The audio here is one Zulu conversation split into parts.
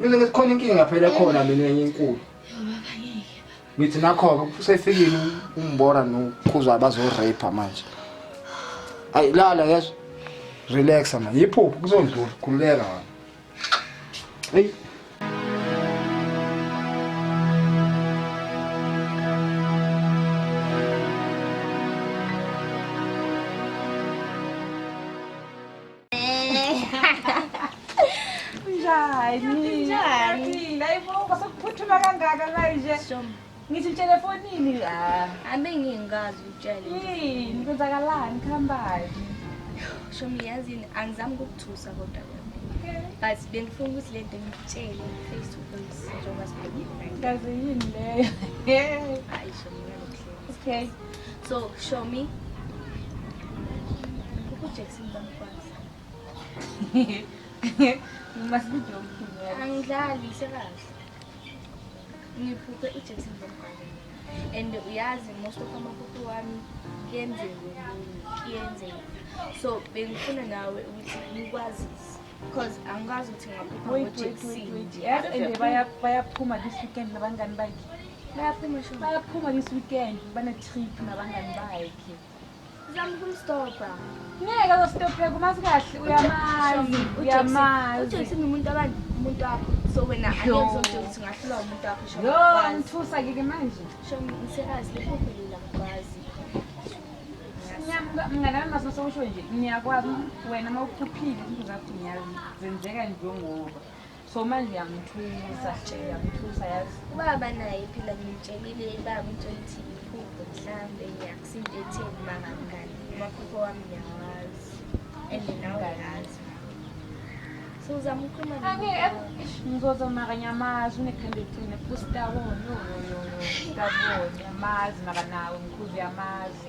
Mina ngithi khona inkinga phela khona mina enye enkulu. Ngithi nakho-ke usefikile umbora nokhuza bazo-rape manje. Ayi lala yezwa. Relaxa manje. Yiphupho kuzondlula khululeka wena. Hey. Njani? Njani? Layibuka sokuphuthuma kangaka manje. Ngithi utshele fonini. Ah. Abe ngingazi utshele. Yini kwenzakalani khambani? Shomi yazini angizami ukukuthusa kodwa but bengifuna ukuthi le nto ngitshele face to face njengoba sibhekile ngaze yini leyo hayi shomi okay so shomi Angidlali sekazi. Ngiphuphe iJackson Bomgane. And uyazi most of amaphupho wami kuyenzeka kuyenzeka. So bengifuna nawe ukuthi ngikwazise. Because angikwazi ukuthi ngaphupha ngoJackson. Yes, and bayaphuma this weekend nabangani bakhe. Bayaphuma this weekend bane-trip nabangani bakhe. Zama ukumstopha. Ngeke ustopheke uma sikahle uyamazi uyamazi. Ujoyce umuntu abantu umuntu wakho so wena angekuzomtshela ukuthi ngahlula umuntu wakho sho. Yo ngithusa kike manje. Sho ngisekazi lokho phela ngikwazi. Mngane wami masose usho nje ngiyakwazi wena uma ukhuphile izinto zakho ngiyazi zenzeka njengoba. so manje yamthusa nje yamthusa yazi ubaba naye phela ngimtshelile ibaba uthi ukuthi iphupho mhlambe ngiyakusinto etheni uma ngamngani umaphupho wami ngiyawazi and nawe yazi so uzama ukhuluma ngizoza maka nyamazi unekhanda eliqine fusta wona yoyoyo kabona yamazi maka nawe ngikhuze yamazi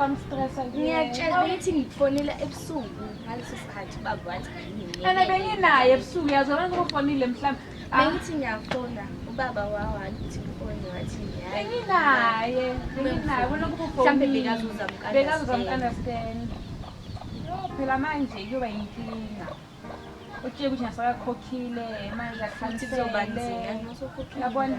wamstressa ngiyakutshela ukuthi ngifonela ebusuku ngaleso sikhathi ubaba wathi ene benginaye ebusuku yazi abantu bofonile mhlawumbe ah. bengithi ngiyafona ubaba wawathi ufone wathi benginaye benginaye mhlawumbe bekazuza bekazuza mkandastand yo phela manje kuyoba yinkinga utsheke ukuthi nasakakhokhile manje akhanisele yabona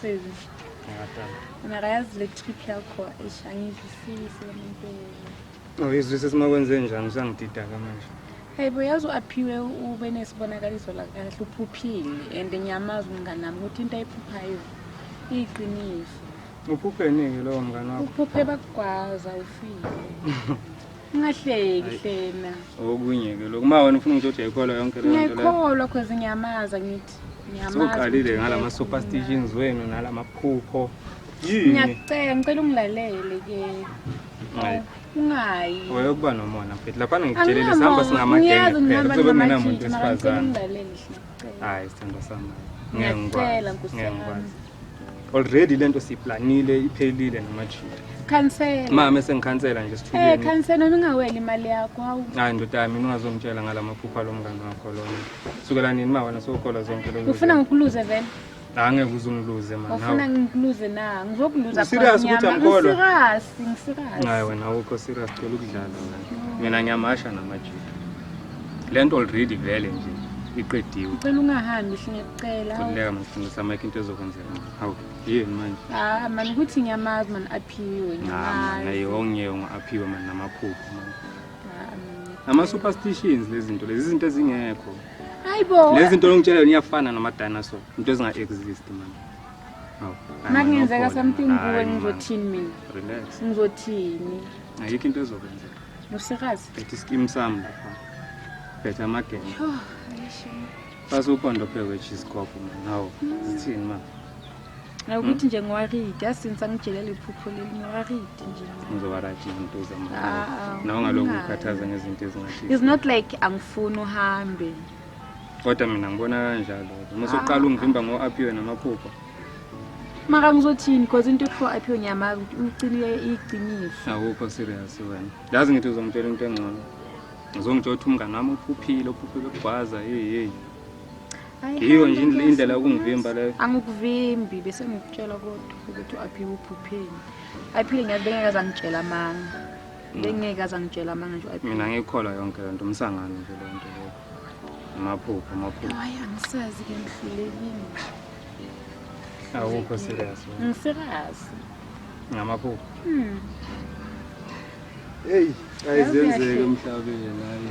Sezi. Mara yazi le trip yakho eish angizwisisi le muntu. Awuyizwisisi uma kwenze njani usangididaka manje. Hey bo yazi u-aphiwe ube nesibonakaliso la kahle uphuphile and ngiyamazi umngane nami ukuthi into ayiphuphayo iyiqiniso. Uphupheni-ke lowo mngane wakho? Uphuphe bakugwaza ufile. Ungahleki hlena. Okunye ke lokho uma wena ufuna ukuthi uthi ayikholwa yonke le nto leyo. Ngiyakholwa cause ngiyamaza ngithi. Ngiyamaza. Soqalile ngala ma superstitions wenu nalama phupho. Yini? Ngiyacela ngicela ungilalele ke. Ngayi. Ungayi. Wewe kuba nomona mfethu lapha ngikutshelile sihamba singamagenge kuphela kuzobe kungenamuntu wesifazane. Ungilalele hlena. Hayi sithando sami. Ngeke ngikwazi. Ngeke ngikwazi. Already lento siplanile iphelile namajita. Khansela. Mama esengikhansela nje sithuleni. Eh khansela ningaweli imali yakho hawu. Hayi ndoda yami ningazongitshela ngalamaphupha lomngane wakho lona. Sukela nini ma wena sokhola zonke lezi. Ufuna ngikuluze vele? Angeke uze ungiluze manje. Ufuna ngikuluze na? Ngizokuluza serious ukuthi angikholwa. Serious, ngiserious. Hayi wena awukho serious cela ukudlala wena. Mina ngiyamasha namajita. Lento already vele nje iqediwe. Ngicela ungahambi singekucela. Kuleka mfundisa Mike into ezokwenzeka. Hawu, yini manje? Ah, man ukuthi ngiyamazi man aphiwe. Ngiyamazi. Hayi, ongiyewe ngaphiwe man namaphupho man. Ah, ama superstitions lezi zinto lezi izinto ezingekho. Hayibo. Lezi zinto ongitshela yona iyafana nama dinosaur, into ezinga exist manje. Hawu. Makungenzeka something kuwe ngizothini mina? Relax. Ngizothini? Ayikho into ezokwenzeka. Nosikazi. Ethi skim sami lapha. Phethe amagenge. Yho, ayisho. Basukhona phezwe cheese coffee manje. Hawu. Zithini manje? ukuthi nje ngiwaridi asince angijelele iphupho leli ngiwaridi nje ngizowarati izinto uzama ah, ah, nawe ngalokhu ukhathaza ngezinto ezingathi is not like angifuni uhambe kodwa mina ngibona kanjalo uma soqala ah. ungivimba ngo-apiwe namaphupho maka ngizothini because into ekuthiwa aphiwe ngiyamazi ukuthi uyicinile iyiqiniso awukho serious wena yazi ngithi uzongitshela into engcono ngizongitsho ukuthi umngane wami uphuphile uphuphile ukugwaza heyi heyi yiyo nje indlela yokungivimba leyo angikuvimbi bese ngikutshela kodwa ukuthi u-aphiwe uphupheni aphile ngiyazi bengeke aze angitshela amanga mm. bengeke aze angitshela amanga nje mina ngiyikholwa yonke le nto umsangano nje le nto leyo amaphupho amaphupho hayi angisazi ke ngihlulekile awukho serious ngiserious ngamaphupho mm. eyi ayizenzeke emhlabeni hayi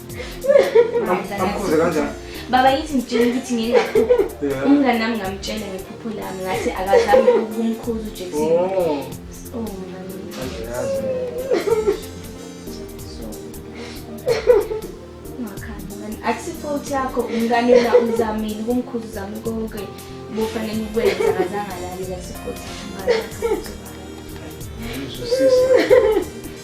amkhuze kanjani baba yithi ngitshela ukuthi ngingaphupha umngane nami ngamtshela ngephupho lami ngathi akazami ukumkhuza ujackson oh. oh, akusifouthi yakho umngane la uzamile ukumkhuza uzame konke bofanele ukwenza akazangalali akusifouthi yakho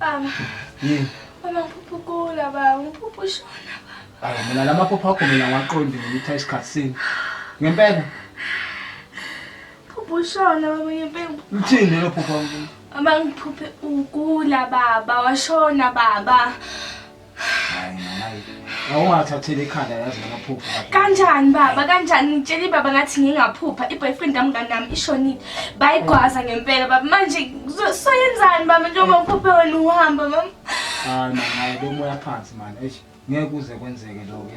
Baba. Yini? Baba ngiphupha ukula baba, ngiphupha ushona baba. Hayi mina lamaphupha akho mina ngiwaqondi ngitha isikhathi sini. Ngempela. Phupha ushona baba ngempela. Uthini lo phupha? Baba ngiphuphe ukula baba, washona baba. awungathatheli ikhanda yazi ngamaphupha kanjani baba kanjani ngitshela ibaba ngathi ngingaphupha i-boyfriend yami kanami ishonile bayigwaza ngempela baba manje soyenzani baba njengoba ngiphuphe wena uhamba mama hayi mama hayi bomoya phansi mani eish ngeke kuze kwenzeke lokho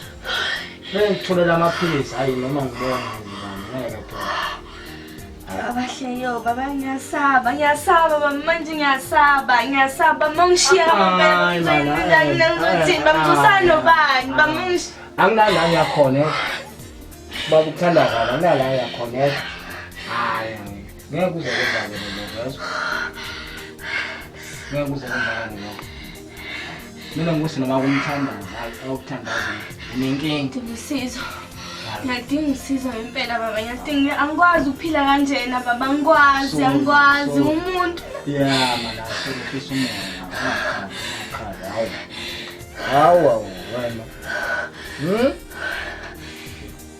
Bengitholela amaphilisi ayi noma ngibona ngeke phela. Abahleyo baba ngiyasaba ngiyasaba baba manje ngiyasaba ngiyasaba mangishiya baba ngizayinda ngizothi bamthusana nobani bamungishiya. Anginala ngiyakhona. Baba uthanda kabi anginala ngiyakhona. Hayi. Ngiyakuza kodwa ke mina yazi. Ngiyakuza kodwa ke mina. Mina ngose noma kumthandaza awukuthandaza unenkinga. Ngisizo. Ngiyadinga usizo ngempela baba ngiyadinga angikwazi ukuphila kanjena baba angikwazi angikwazi umuntu. Yeah mana sekukhisa umoya. Hawu hawu wena. Hmm?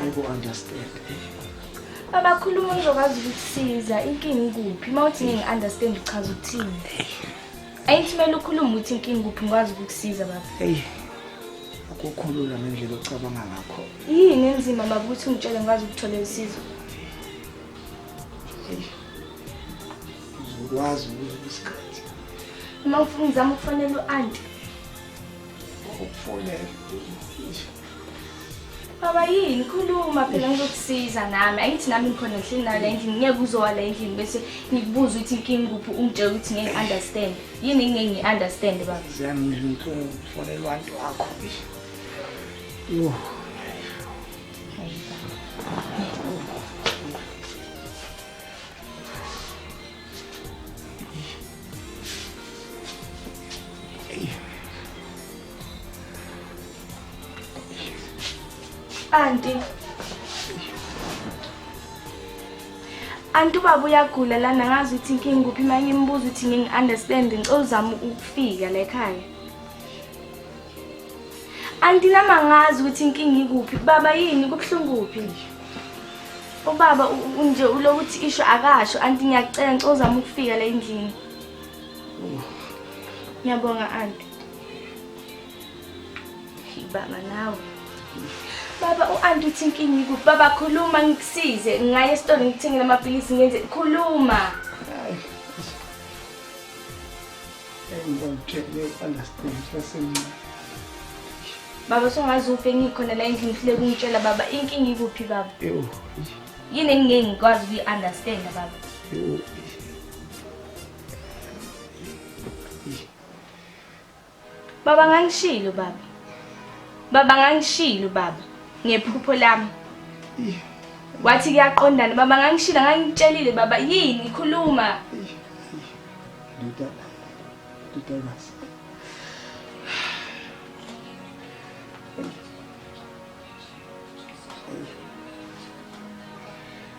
Ayiku-understand. Baba khuluma ngizokwazi ukukusiza. Inkinga ikuphi? Uma uthi ngingi-understand uchaza ukuthini? Ayithi kumele ukhulume ukuthi inkinga ikuphi ngikwazi ukukusiza baba. Eyi. Akukho lula ngendlela ocabanga ngakho. Yini enzima baba ukuthi ungitshele ngikwazi ukuthola usizo? Eyi. Uzokwazi ukusikhathi. Uma ufuna ngizama ukufonela u-anti. Ukufonela. Baba yini khuluma phela ngizokusiza nami angithi nami ngikhona ngihleli nayo la endlini ngeke uzowa la endlini bese ngikubuza ukuthi inkinga kuphi ungitshela ukuthi ngeke understand yini ngeke ngi-understand baba ziyangizwa inhlungu kufonelwa abantu wakho yho Anti. Anti ubaba uyagula lana ngazi ukuthi inkinga kuphi uma ngimbuza ukuthi ngingi-understand ngicela uzama ukufika la ekhaya. Anti nama ngazi ukuthi inkinga ikuphi. Baba yini kubuhlungu kuphi? Ubaba nje ulokuthi isho akasho anti ngiyacela ngicela uzama ukufika la endlini. Ngiyabonga anti. Baba nawe. Baba u-anti uthi inkinga ikuphi? Baba khuluma ngikusize. Ngingaya esitolo ngikuthengele amaphilisi ngenze khuluma. Ngibamtshele u-understand sasemncane. Baba songazi uphi engikhona la endlini ufile kungitshela baba inkinga ikuphi baba? Ewu. Yini engingeke ngikwazi ukuyi-understand baba? Ewu. Baba ngangishilo baba. Baba ngangishilo baba ngephupho lami. Wathi kuyaqondana baba ngangishilo ngangitshelile baba yini khuluma. Ndoda. Ndoda kazi.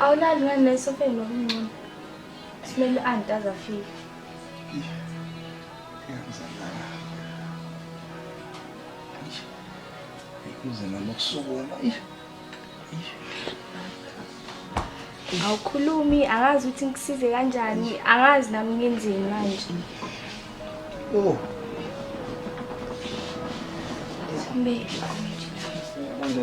awulali ngani la esofeni ngokuncono simele u-anti aze afike kuze nami ukusukuma awukhulumi angazi ukuthi ngikusize kanjani angazi nami ngenzeni manje oh Mbe. Mbe.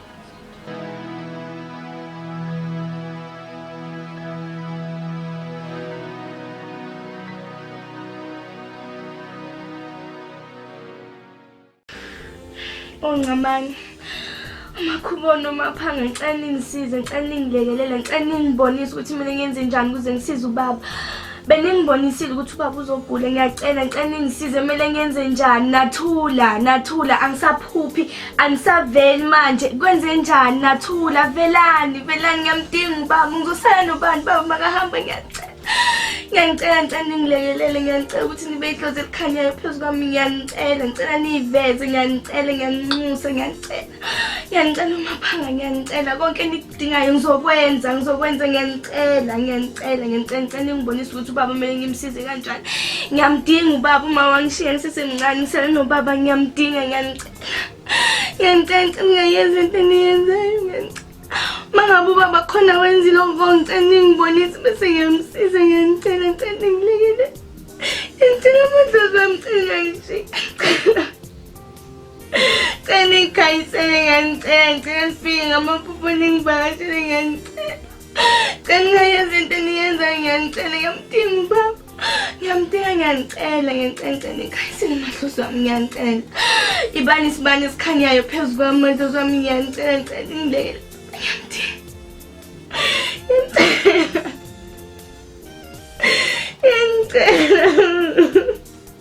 ongcamane umakhubona umaphanga ngicela ningisize ngicela ningilekelele ngicela ningibonise ukuthi mina ngenze njani ukuze ngisize ubaba beningibonisile ukuthi ubaba uzogula ngiyacela ngicela ningisize kumele ngenze njani nathula nathula angisaphuphi anisaveli manje kwenze njani nathula velani velani ngiyamdinga ubaba ngosana nobani baba makahamba ngiyacela ngiyangicela ngicela ningilekelele ngiyangicela ukuthi nibe idlozi elikhanyayo phezu kwami ngiyangicela ngicela niyiveze ngiyangicela ngiyanginxusa ngiyangicela ngiyangicela umaphanga ngiyangicela konke dingayo ngizokwenza ngizokwenza ngiyanicela ngiyanicela ngiyanicela ngicela ningibonise ukuthi ubaba kumele ngimsize kanjani ngiyamdinga ubaba uma wangishiya ngisesemncane ngisele nobaba ngiyamdinga ngiyanicela ngiyanicela ngicela ngingayenza into eniyenzayo ngiyanicela uma ngabe ubaba khona wenzile oko ngicela ningibonise bese ngiyamsiza ngiyanicela ngicela ningilekele ngicela amadlozi wamcela ngishiyacela Cela niyikhaysele ngiyanicela ngicela nifike ngamaphupho ningivakashele ngiyanicela cela ningayenza into eniyenzayo ngiyanicela ngiyamdinga ubaba ngiyamdinga ngiyanicela ngiyanicela cela niyikhaysele mahlosi wami ngiyanicela ibani isibani esikhanyayo phezu kwami mahlosi wami ngiyanicela ngicela ningilekele ngiyamdinga ngiyamcela ngiyamcela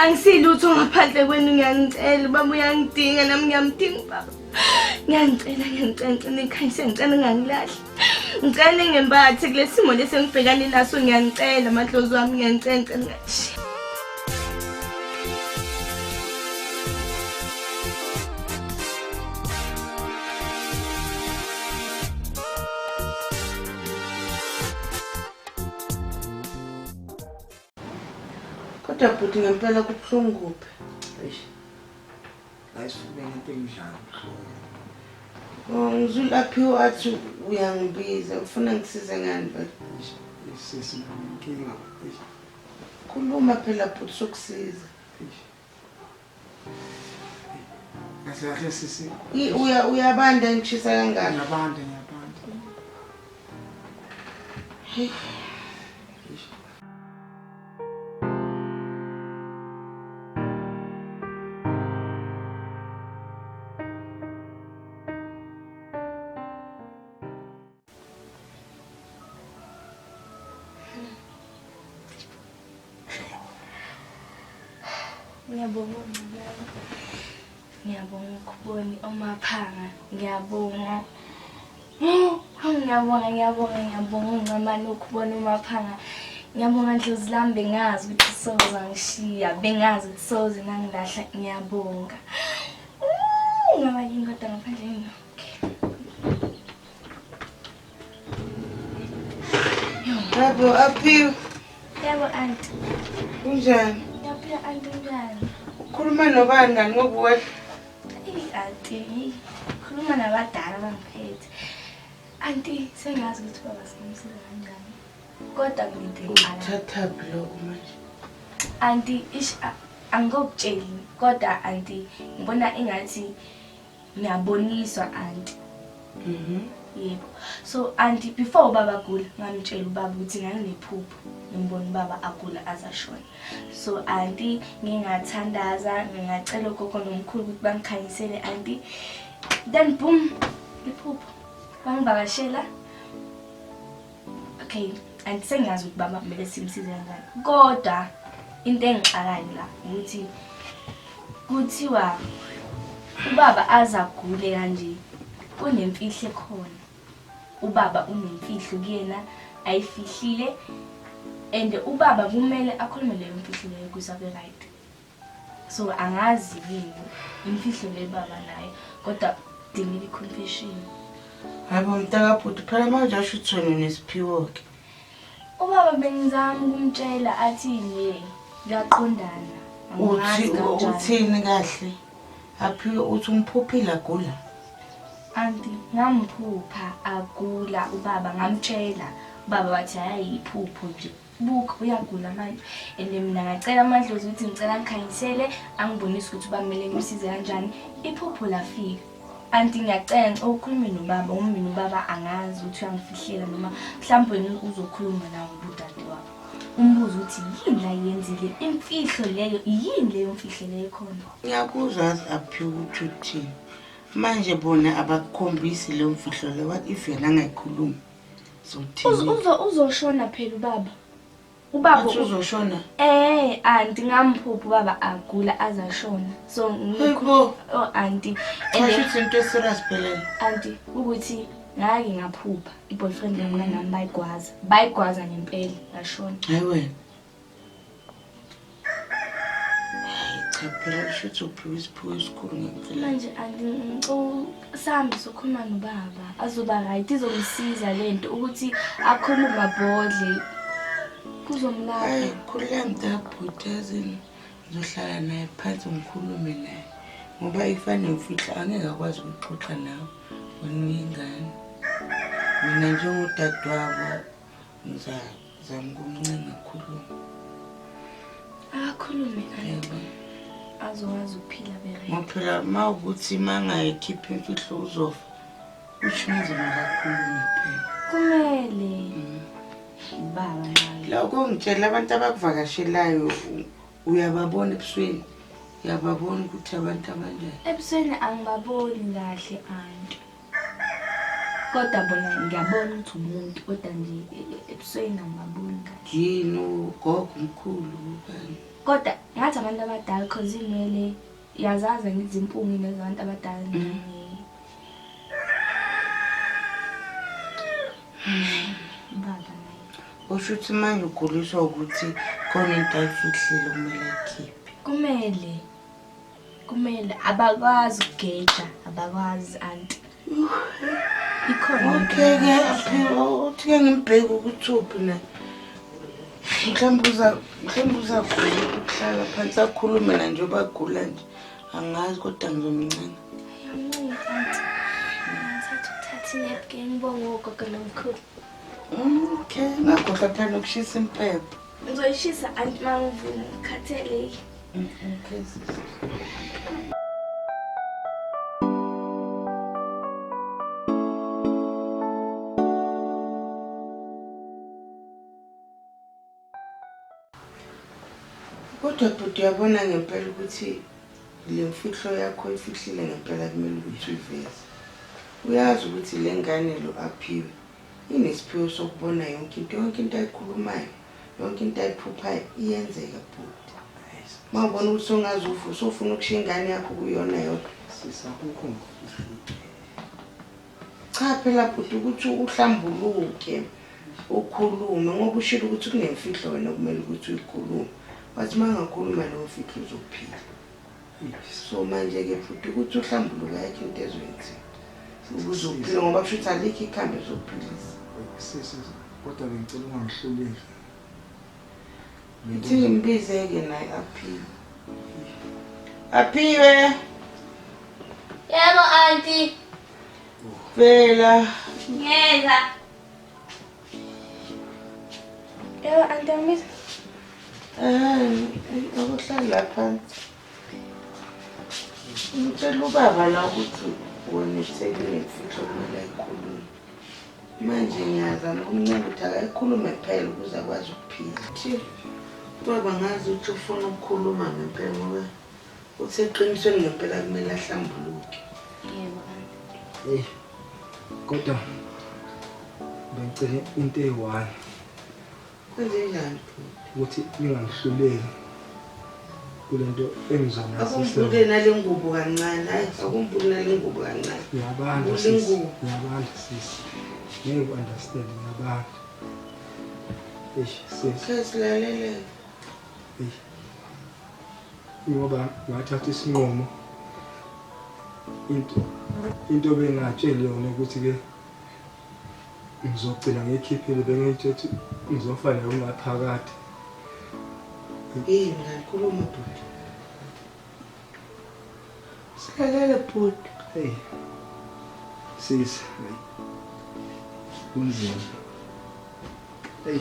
angisilutho ngaphandle kwenu ngiyangicela ubaba uyangidinga nami ngiyamdinga ubaba ngiyangicela ngiyangicela ngicela ikhanyise ngicela ngangilahli ngicela ningembathe kule simo lesi engibhekane naso ngiyangicela amadlozi wami ngiyangicela ngicela ngashiya Kodwa bhuti ngempela kubuhlungu kuphi? Eish. Ayisifune into enjalo. Oh, ngizulaphiwe athi uyangibiza ufuna ngisize ngani vele? Sisi nginkinga. Eish. Khuluma phela bhuti sokusiza. Eish. kahle kahle sisi I- uya- uyabanda ngishisa kangaka ngiyabanda ngiyabanda Ngiyabonga uNcibela. Ngiyabonga ukubona omaphanga. Ngiyabonga. Ngiyabonga, ngiyabonga, ngiyabonga uNcamane ukubona umaphanga. Ngiyabonga ndlozi lami bengazi ukuthi soze angishiya. Bengazi ukuthi soze nangilahla. Ngiyabonga. Ngaba yini kodwa ngaphandle yini? Yebo, aphiwe. Yebo, anti. Kunjani? Ngiyaphila, anti, kunjani? Ukhuluma nobani ngani ngokuwehla? Eyi, anti, khuluma nabadala bangiphethe. Anti, sengazi ukuthi baba singamsiza kanjani. Kodwa ngide ngqala. Uthathaphi lokho manje? Anti, ish, angikokutsheli. Kodwa anti, ngibona engathi Ngiyaboniswa auntie. Mhm. Mm yebo. So auntie before ubaba agula ngamtshela ubaba ukuthi nganginephupho ngimbona ubaba agula azashona. So auntie ngingathandaza ngingacela ugogo nomkhulu ukuthi bangikhanyisele auntie. Then boom iphupho. Bangivakashela okay and sengiyazi ukuthi baba kumele simsize kanjani kodwa into engixakayo la ukuthi kuthiwa ubaba azagule kanje kunemfihlo ekhona ubaba unemfihlo kuyena ayifihlile and ubaba kumele akhulume leyo mfihlo leyo kuze abe right so angazi yini imfihlo le baba naye kodwa dingile i-confession hayi bo mntakabhuti phela manje asho ukuthi wena unesiphiwo-ke ubaba bengizama ukumtshela athini kuyaqondana uthi uthini kahle aphiwe uthi umphuphile agula anti ngamphupha agula ubaba ngamtshela ubaba wathi hayi yiphupho nje Buk uyagula manje and mina ngacela amadlozi ukuthi ngicela ngikhanyisele angibonise ukuthi uba kumele ngimsize kanjani iphupho lafika anti ngiyacela ngicela ukhulume nobaba uma mina ubaba angazi ukuthi uyangifihlela noma mhlawumbe wena uzokhuluma nawo ubudade wakho umbuzo ukuthi yini la yenzile imfihlo leyo yini leyo mfihlo leyo khona ngiyakuzwa aphi ukuthi uthini manje bona abakukhombisi leyo mfihlo le what if yena angayikhulumi uzoshona phela ubaba ubaba uzoshona eh anti ngamphupha ubaba agula azashona so ngikho oh anti kusho into eserious phela anti ukuthi ngake ngaphupha iboyfriend yami kanami bayigwaza bayigwaza ngempela ngashona hayi wena cha phela usho ukuthi uphiwe isiphiwo esikhulu ngempela manje angisambi sokhuluma nobaba azoba right izomsiza le nto ukuthi akhulume mabhodle kuzomlapha hayi khulula mntabhuti yazini ngizohlala naye phansi ngikhulume naye ngoba ifane ngifihla angeke akwazi ukuxoxa nawe wena uyingane mina njengudadewabo ngizalo Zama ukumncenga akhulume. Akakhulume ayebo. Azowazi ukuphila bere. Ngophela mawukuthi mangayikhipha imfihlo uzofa. Usho nje makakhulume phela. Kumele. Mm. Baba nami. Lokho ngitshela abantu abakuvakashelayo uyababona ebusweni. Uyababona ukuthi abantu abanjani. Ebusweni angibaboni kahle anti. kodwa bona ngiyabona ukuthi umuntu kodwa nje ebusweni angibaboni kahle yini ugogo mkhulu kanye kodwa ngathi abantu abadala cause inwele yazazi ngithi impungi nezabantu abadala baba usho ukuthi manje uguliswa ukuthi khona into ayifihlile kumele ayikhiphe kumele kumele abakwazi ukugeja abakwazi anti ikhona utheke aphela uthike ngimbheke ukuthi uphi na mhlawumbe uza mhlawumbe uzagula ukuhlala phansi akhulume na nje obagula nje angazi kodwa ngizomncana ngibonga ugogo nomkhulu okay ngakhohlwa phela ukushisa impepho Ngizoyishisa anti mangivuna ngikhatheleki. Mm, mm, please. Kodwa bhuti uyabona ngempela ukuthi le mfihlo yakho ifihlile ngempela kumele ukuthi uyiveze. Uyazi ukuthi le ngane lo aphiwe Nginesiphiwo sokubona yonke into, yonke into ayikhulumayo, yonke into ayiphuphayo iyenzeka bhuti. Uma ubona ukuthi songaze ufe usofuna ukushiya ingane yakho kuyona yodwa. Sisa kukho Cha phela bhuti ukuthi uhlambuluke ukhulume ngoba ushilo ukuthi kunemfihlo wena okumele ukuthi uyikhulume. Wathi uma ngakhuluma leyo mfihlo uzophila. so manje-ke futhi ukuthi uhlambuluka yakhe into ezwenzi uzokuphila ngoba kusho ukuthi alikho ikhambi ezokuphilisa sisi kodwa bengicela ungangihluleli ithi ngimbize-ke naye aphiwe aphiwe yebo anti vela ngeza Yebo antamisa. Hayi, akuhlala phansi. Ngitshela ubaba la ukuthi wona ithekile mfihlo kumele ayikhulume. Manje ngiyazama ukumncela ukuthi akayikhulume kuphela ukuze akwazi ukuphila. Baba ngazi ukuthi ufuna ukukhuluma ngempela ngoba Uthe eqinisweni ngempela kumele ahlambuluke. Yebo, anti. Hey. Kodwa bengicela into eyi-one. Kwenzenjani bhuti? Ukuthi ningangihluleli kule nto engizonasisa. Akumbulule nale ngubo kancane. Hayi, akumbulule nale ngubo kancane. Ngiyabanda sisi. Ngiyabanda sisi. Ngeke u-understand ngiyabanda. Eish sisi. Sesilalelele. Eish. ngoba ngathatha isinqumo into into bengatsheli yona ukuthi ke ngizogcina ngiyikhiphile bengiyitshethi ngizofa nayo ngaphakathi eyi mngani khuluma dudu Silalele bhuti. Hey. Sisi. Kunzima. Hey.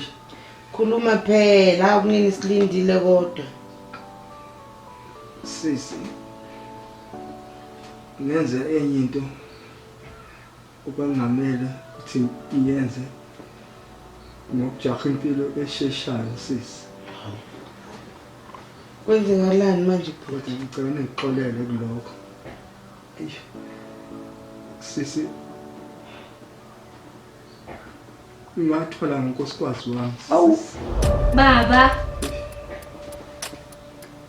Khuluma phela kunini silindile kodwa. Sisi. Ngenze enye into Obekungamele ukuthi iyenze ngokujaha impilo esheshayo sisi. Kwenzekalani manje bhuti? Ngicela ningixolele kulokho. Eish. Sisi Uyathola ngonkosikazi wami. Awu. Baba.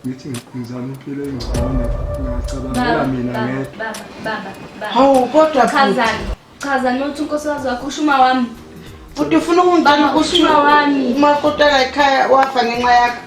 Ngithi ngizama impilo engcono. Ngiyacabangela mina ngedwa. Baba, baba, baba. Hawu kodwa chaza. Chaza nothi unkosikazi wakho ushuma wami. Futhi ufuna ukungibamba ushuma wami. Uma kodwa ekhaya wafa ngenxa yakho.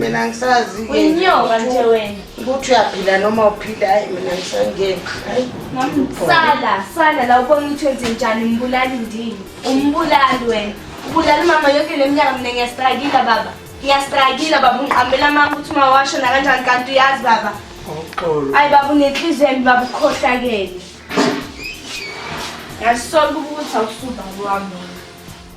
mina ngisazi uyinyoka nje wena ukuthi uyaphila noma uphila hayi mina ngisangeni sala sala la ubona ukuthi wenze njani umbulali ndini umbulali wena ubulala umama yonke le mnyaka mina ngiyasitrayikila baba ngiyasitrayikila baba ungiqambela amanga ukuthi uma washo nakanjani kanti uyazi baba ayi baba unenhliziyo embi baba ukhohlakele ngiyazisola ukuba ukuthi awusubaba wami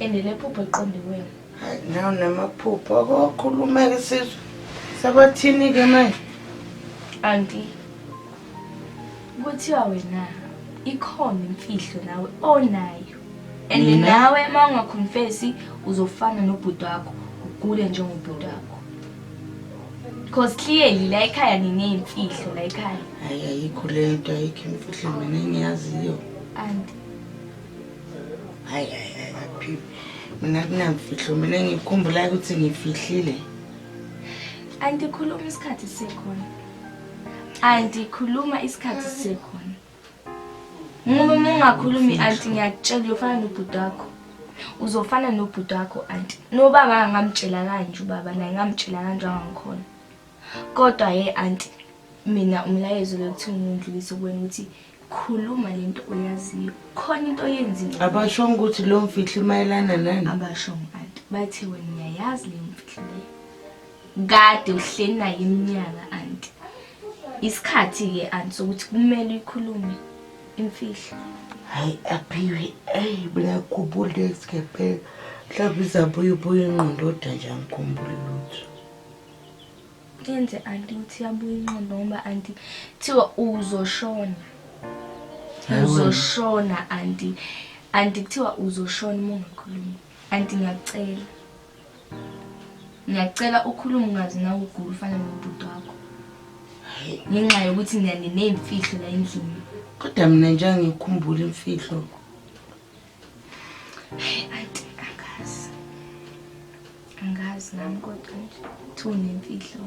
and nephupho eqonde kuwena hayi naw namaphupho akokhulumeke sizwe sabathini-ke manje anti kuthiwa wena ikhona imfihlo nawe onayo and nawe uma ungakhonfesi uzofana nobhuti wakho ugule njengobhuti wakho because clearly la ekhaya nineyimfihlo la ekhaya hayi ayikho le nto ayikho imfihlo mina engiyaziyo anti hayi hayi hayi baphile mina kunamfihlo mina ngikhumbulayo ukuthi ngifihlile andikhuluma isikhathi sisekhona andikhuluma isikhathi sisekhona ngoba uma ungakhulumi anti ngiyakutshela uyofana nobhuti wakho uzofana nobhuti wakho anti nobaba angamtshela kanje ubaba naye ngamtshela kanje angangikhona Kodwa ye anti mina umlayezo lokuthi ngindlulise kuwena ukuthi khuluma lento oyaziyo. Khona into oyenzile. Abasho ukuthi lo mfihlo imayelana nani? Abasho anti bathe wena uyayazi le mfihlo le. Kade uhleli naye iminyaka anti. Isikhathi ke anti sokuthi kumele uyikhulume imfihlo. Hayi aphiwe ey mina khumbula isikephe. Mhlawumbe izabuya ubuye ingqondo oda nje angikhumbuli lutho. Yenze anti ukuthi yabuya inqondo ngoba anti thiwa uzoshona. Uzoshona anti anti kuthiwa uzoshona uma ungakhulumi. Anti ngiyakucela. Ngiyakucela ukhulume ungazi nawe ugula ufana nobhuti wakho. Ngenxa yokuthi ngiyanineyimfihlo la endlini. Kodwa mina nje angikhumbula imfihlo. Hey, auntie, angazi. Angazi nami kodwa nje. Thunemfihlo.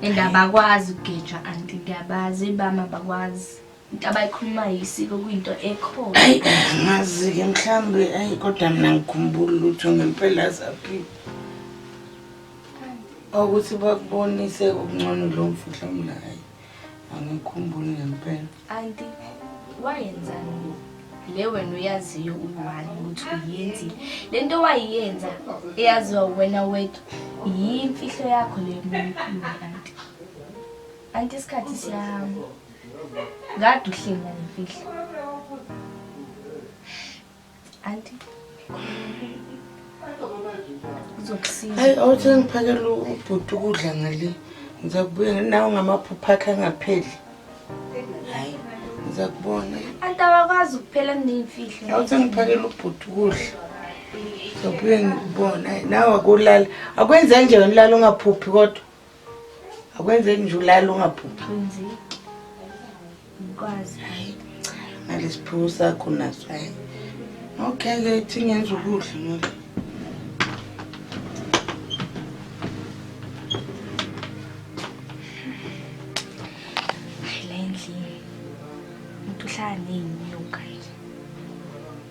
And abakwazi ukugejwa anti ngiyabazi ibama abakwazi. Into abayikhuluma yisiko kuyinto ekhona. Ayi ngazi ke mhlambe ayi kodwa mina ngikhumbula lutho ngempela zaphi. Ukuthi bakubonise okungcono lo mfihlo mlayo. angikhumbuli ngempela anti wayenzani le wena uyaziyo uyiwani ukuthi uyenzile le nto wayiyenza eyaziwa wena wethu yimfihlo yakho le mlumkhuluma anti anti isikhathi siyahamba kade uhlenga nemfihlo Anti. Uzokusiza. Hayi awuthi ngiphakela ubhuti ukudla ngale. Ngiza kubuya nawe ngamaphupha akhe angapheli. Hayi ngiza kubona. Anti awakwazi ukuphela kuneyimfihlo. Awuthi ngiphakela ubhuti ukudla. Ngizobuye ngikubona. Nawe akulala. Akwenze nje unilala ungaphuphi kodwa. akwenzeki nje ulala ungaphuphi kwenzeki ngikwazi hayi cha nalesiphiwo sakho naso hayi okay ke thi ngenza ukudla ngoba Hayi, la endlini umuntu uhlala neyinyoka nje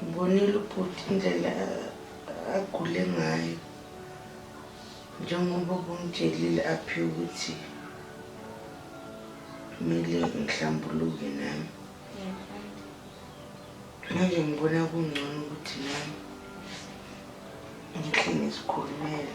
Ngibonile ubhuti indlela agule ngayo njengoba ubungitshelile aphi ukuthi kumele ngihlambuluke nami manje ngibona kungcono ukuthi nami ngihlenge sikhulumele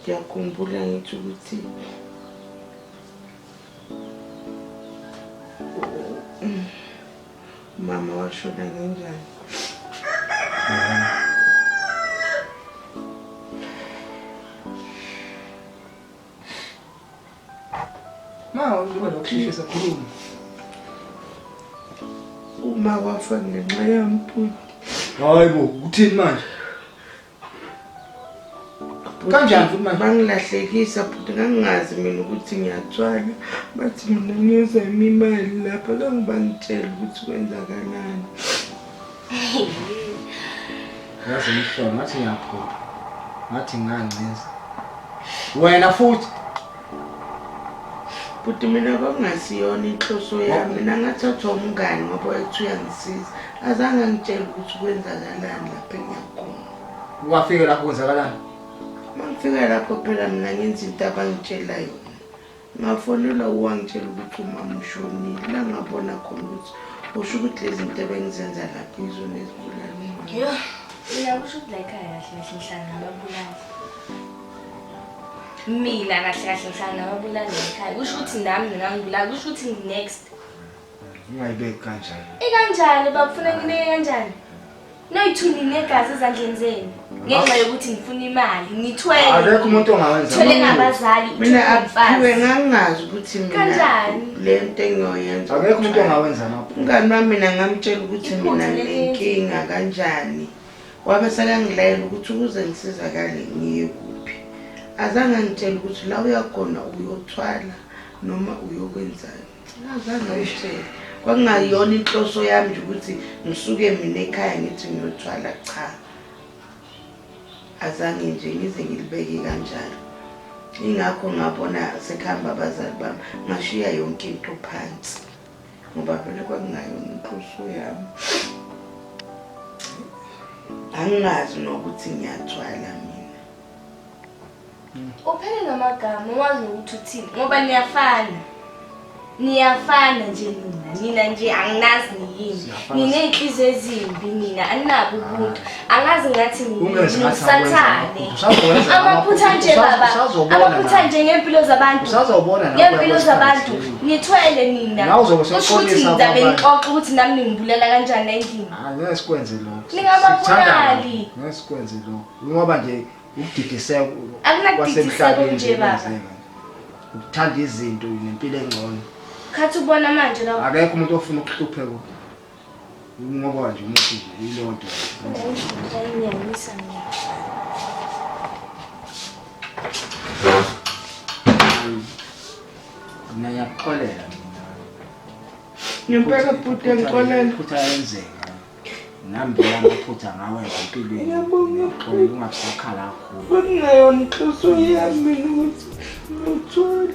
ngiyakhumbula ngithi ukuthi umama washona ngenjani ma uba nokushishisa khuluma uma wafa ngenxa yami bhuti hayi bo uthini manje kanjani futhi manje bangilahlekisa futhi ngangingazi mina ukuthi ngiyathwala bathi mina ngiyoza yimi imali lapha kangibangitshela ukuthi kwenzakalani yazi umhlolo ngathi ngiyaphupha ngathi ngancinza wena futhi Bhuti mina kwakungasiyona inhloso yami mina ngathathwa umngani ngoba wayethi uyangisiza azange angitshele ukuthi kwenzakalani lapho engiyakhona wafika lapho kwenzakalani uma ngifika lapho phela mina ngenza into abangitshela yona ngafonelwa uwangitshela ukuthi umama ushonile la ngabona khona ukuthi usho ukuthi lezi zinto ebengizenza lapho izona ezibulala umama uyakusho ukuthi la ekhaya kahle kahle ngihlangana babulala mina kahle kahle ngihlala nababulali ekhaya kusho ukuthi nami ngingangibulali kusho ukuthi ngi-next ungayibeki kanjani ikanjani bakufuna ngineke kanjani noyi-two ninegazi ezandleni zenu ngenxa yokuthi ngifuna imali ngithweleakekho umuntu ongawenzathwele ngabazali mina aphiwe ngangingazi ukuthi kanjani le nto engiyoyenza akekho umuntu ongawenza mngani wami mina ngamtshela ukuthi mina nginenkinga kanjani Wabe sekangilayela ukuthi ukuze ngisizakale ngiye kuphi. Azange angitshele ukuthi la uyakhona uyothwala noma uyokwenzani. Azange angitshele. Kwakungayona inhloso yami nje ukuthi ngisuke mina ekhaya ngithi ngiyothwala cha. Azange nje ngize ngilibeke kanjalo. Ingakho ngabona sekuhamba abazali bami ngashiya yonke into phansi. ngoba phela kwakungayona inhloso yami anginazi nokuthi ngiyathwala mina uphele ngamagama uwazi nokuthi uthini ngoba niyafana niyafana nje nina nina nje anginazi niyini niney'nhliziyo ezimbi nina aninabi ubuntu angazi ngathi ngisathane amaphutha nje baba amaphutha nje ngempilo zabantu ngempilo zabantu nithwele nina kusho ukuthi ngizabe ngixoxa ukuthi nami ningibulela kanjani endlini ah, ngeke sikwenze lokho ningababulali ngeke sikwenze lokho ngoba nje ukudidiseka kwasemhlabeni nje baba ukuthanda izinto nempilo engcono khathi ubona manje lapho akekho umuntu ofuna ukuhlupheka Ngoba nje umuthi nje ilonto. Ngiyayinyanyisa mina. Mina ngiyakuxolela mina. Ngempela bhuti engixolela. Futhi ayenzeka. Nami ngiyamaphutha ngawe empilweni. Ngiyabonga uxolela ungasakhala kakhulu. Kungeyona inhloso yami mina ukuthi ngithole.